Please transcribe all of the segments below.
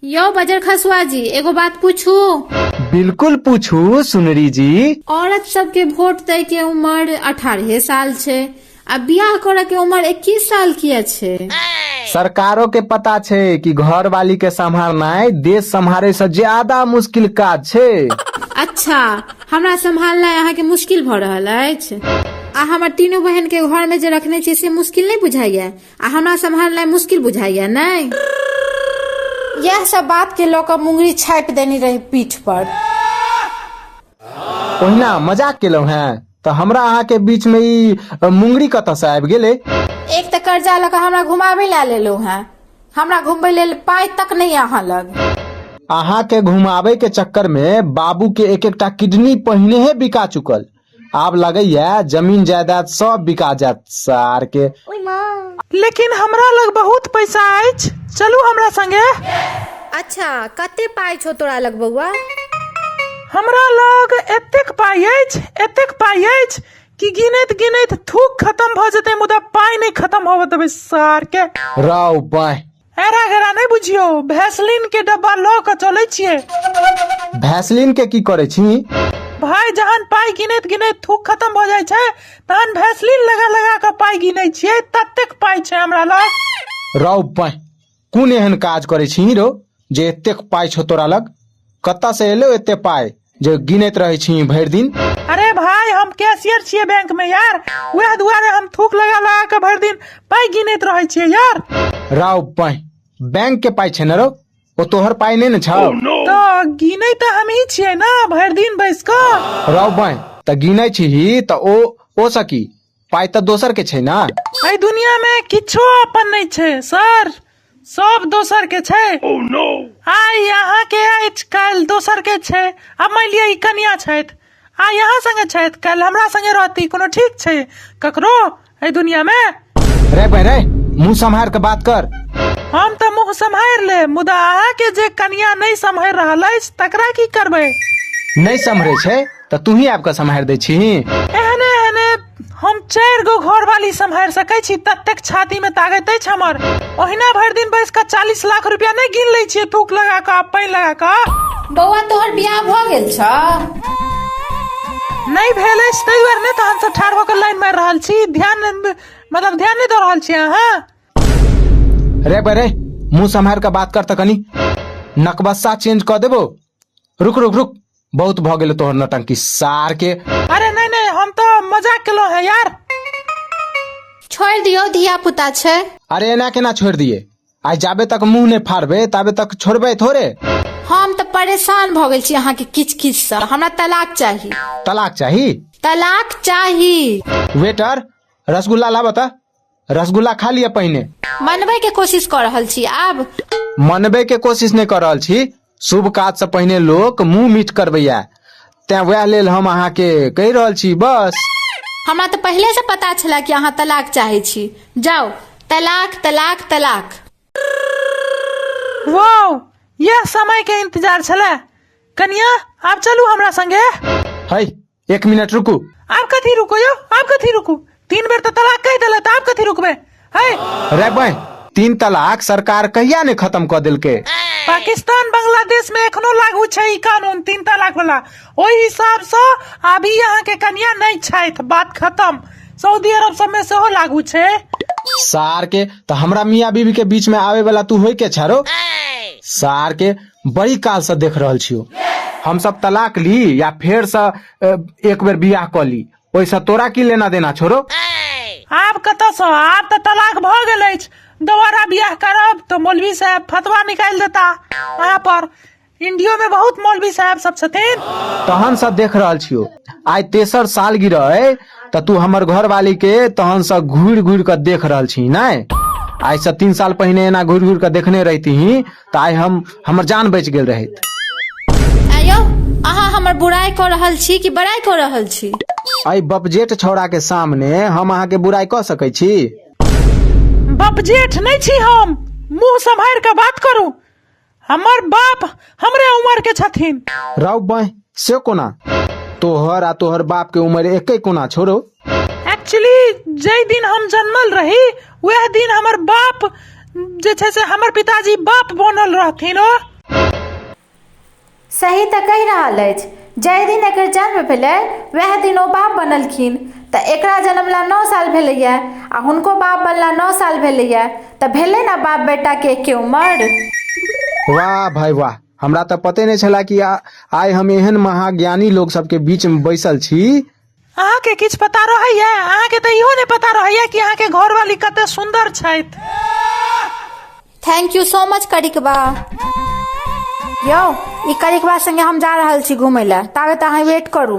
यौ बजर खसुआ जी एगो बात पूछू बिल्कुल पूछू सुनरी जी औरत सबके वोट दै के उम्र अठारह साल छै आ बियाह करे के उम्र इक्कीस साल किया छै सरकारो के पता छै कि घर वाली के संभालनाय देश संभाले से ज्यादा मुश्किल काज छै अच्छा हमरा सम्हालनाइ अहाँके मुश्किल भऽ रहल अछि आ हमर तीनू बहन के घर में जे रखने छी से मुश्किल नहि बुझाइया आ हमरा सम्हारनाइ मुश्किल बुझाइए नहि इएह सब बात के लऽ कऽ मुंगरी छापि देने रही पीठ पर ओहिना मजाक केलहुँ हेँ तऽ हमरा अहाँके बीचमे ई अ, मुंगरी कतऽसँ आबि गेलै एक तऽ कर्जा लऽ कऽ हमरा घुमाबै लए लेलहुँ हेँ हमरा घुमबै लेल पाइ तक नहि यऽ अहाँ लग अहाँके घुमाबैके चक्करमे बाबूके एक एकटा किडनी पहिनेहे बिका चुकल आब लगैया जमीन जायदाद सब बिका जायत सार के लेकिन हमरा लग बहुत पैसा अछि चलू हमरा संगे अच्छा कते पाइ छौ तोरा लग बौआ हमरा लग एतेक पाइ अछि एतेक पाइ अछि कि गिनैत गिनैत थूक खत्म भऽ जेतै मुदा पाइ नहि खत्म होबऽ देबै सार के राव बाह हेरा घेरा नहि बुझियो भैसलिन के डब्बा लऽ कऽ चलै छियै भैसलिन के की करे छी भाय जहन पाइ गिनैत गिनैत थूक खत्म भऽ जाइ छै तहन भैसलिन लगा लगा कऽ पाइ गिनै छियै ततेक पाइ छै हमरा लग रौ पाय कोन एहन काज करे छी रौ जे एतेक पाय छौ तोरा लग कतऽ से एलो एते पाय जे गिनैत रहै छी भरि दिन अरे भाई हम कैशियर छियै बैंक में यार वएह दुआरे हम थूक लगा लगा के भरि दिन पाई गिनैत रहै छियै यार राव पाई बैंक के पाई छै ने रौ ओ तोहर पाई नहि ने छौ तो गिनै तऽ हमही छियै ने भरि दिन बैस कऽ राव पाई तऽ गिनै छी तऽ ओ ओ सकी पाइ तऽ दोसर के छै ने एहि दुनिया में किछो अपन नहीं छै सर सब दोसर के छै आइ यहाँ के अछि काल्हि दोसर के छै आ मान लिअ ई कनिया छथि आ यहाँ संगे छथि काल्हि हमरा संगे रहती कोनो ठीक छै ककरो एहि दुनिया में रे बहन रे मुंह सम्हार के बात कर हम तऽ मुंह सम्हारि लेब मुदा अहाँ के जे कनिया नहि सम्हारि रहल अछि तकरा की करबै नहीं सम्हरे छै तऽ तूही आबि कऽ सम्हारि दै छीही एहने एहने हम चारि गो घर वाली सम्हारि सकै छी ततेक छाती मे ताकत अछि हमर ओहिना भरि दिन बैस कऽ चालीस लाख रुपया नहि गिन लै छियै थूक लगा कऽ पानि लगा कऽ बौआ तोहर बियाह भऽ गेल छ नहि भेल अछि ताहि दुआरे नहि तहन से ठाढ़ भऽ कऽ लाइन मारि रहल छी ध्यान नहि- मतलब ध्यान नहि दऽ रहल छी अहाँ रे बे रे मुंह सम्हारि कऽ बात कर तऽ कनी नकबस्सा चेंज कऽ देबो रुक रुक रुक बहुत भऽ गेलै तोहर नटंकी सार के अरे नहीं नहीं हम तो मजाक केलो है यार छोड़ि दियौ धिया पुता छै अरे एना केना छोड़ि दिए आइ जाबे तक मुंह नहि फाड़बे ताबे तक छोड़बे थोड़े हम तऽ परेशान भऽ गेल छी अहाँके किच किच सँ हमरा तलाक चाही तलाक चाही तलाक चाही वेटर रसगुल्ला लाबऽ तऽ रसगुल्ला खा लिअ पहिने मनबै के कोशिश कऽ रहल छी आब मनबे के कोशिश नहि कर रहल छी शुभ काज से पहिने लोक मुंह मीठ करबैया तें वएह लेल हम अहाँके कहि रहल छी बस हमरा तऽ पहिले से पता छला कि अहाँ तलाक चाहे छी जाओ तलाक तलाक तलाक वाओ यह समय के इंतजार छले कनिया आप चलू हमरा संगे है एक मिनट रुकू आप कथी रुको यो आप कथी रुकू तीन बेर तो तलाक कह दिला तो आप कथी रुकबे है रे बहन तीन तलाक सरकार कहिया ने खत्म कर दिलके पाकिस्तान बांग्लादेश में एखनो लागू छै ई कानून तीन तलाक वाला ओहि हिसाब से अभी यहाँ के कन्या नहीं छैथ बात खत्म सऊदी अरब सब में सेहो लागू छै सार के तो हमरा मियाँ बीबी के बीच में आवे वाला तू होई के छारो सार के बड़ी काल से देख रहल छियो हम सब तलाक ली या फेर से अ, एक बेर बियाह क ली ओइसे तोरा की लेना देना छोरो आब कतऽसँ आब तऽ तलाक भऽ गेल अछि दोबारा बियाह करब तऽ मौलवी साहब फतवा निकालि देता अहाँ पर इंडियो में बहुत मौलवी साहब सब छथिन तहन से देख रहल छियो आइ तेसर साल गिरह त तू हमर घरवाली के तहन से घूर घूर के देख रहल छी नै आइ से तीन साल पहिने एना घूर घूर के देखने रहती तऽ आइ हम हमर जान बचि गेल रहैत ऐं यौ अहाँ हमर बुराइ कऽ रहल छी कि बड़ाइ कऽ रहल छी एहि बपजेठ छौड़ा के सामने हम अहाँके बुराई कऽ सकै छी बाप जेठ नहीं छी हम मुंह संभार के बात करू हमर बाप हमरे उम्र के छथिन रौ बह से कोना तोहर आ तोहर बाप के उम्र एके कोना छोड़ो एक्चुअली जय दिन हम जन्मल रही वह दिन हमर बाप जे छै से हमर पिताजी बाप बनल रहथिन ओ सही तऽ कहि रहल अछि जाहि दिन एकर जन्म भेलै वएह दिन ओ बाप बनलखिन तऽ एकरा जन्मला नओ साल भेलैए आ हुनको बाप बनला नओ साल भेलैए तऽ भेलै ने बाप बेटाके एके उमर वाह भाई वाह हमरा तऽ पते नहि छला कि आ- आइ हम एहन महाज्ञानी लोग सबके बीच में बैसल छी अहाँके किछु पता रहैया अहाँके तऽ इहो नहि पता रहैया कि अहाँके घरवाली कते सुन्दर छथि थैंक यू सो मच करिकबा यौ ई करिकबा संगे हम जा रहल छी घूमय लए ताबे तऽ अहाँ वेट करू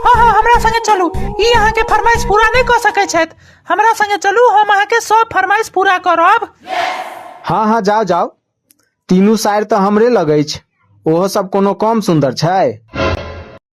हँ हँ हमरा संगे चलू ई अहाँके फरमाइश पूरा नहि कऽ सकै छथि हमरा संगे चलू हम अहाँके सब फरमाइश पूरा करब हाँ हाँ जाओ जाओ तीनू साइड तऽ हमरे लग अछि ओहो सब कोनो कम सुन्दर छै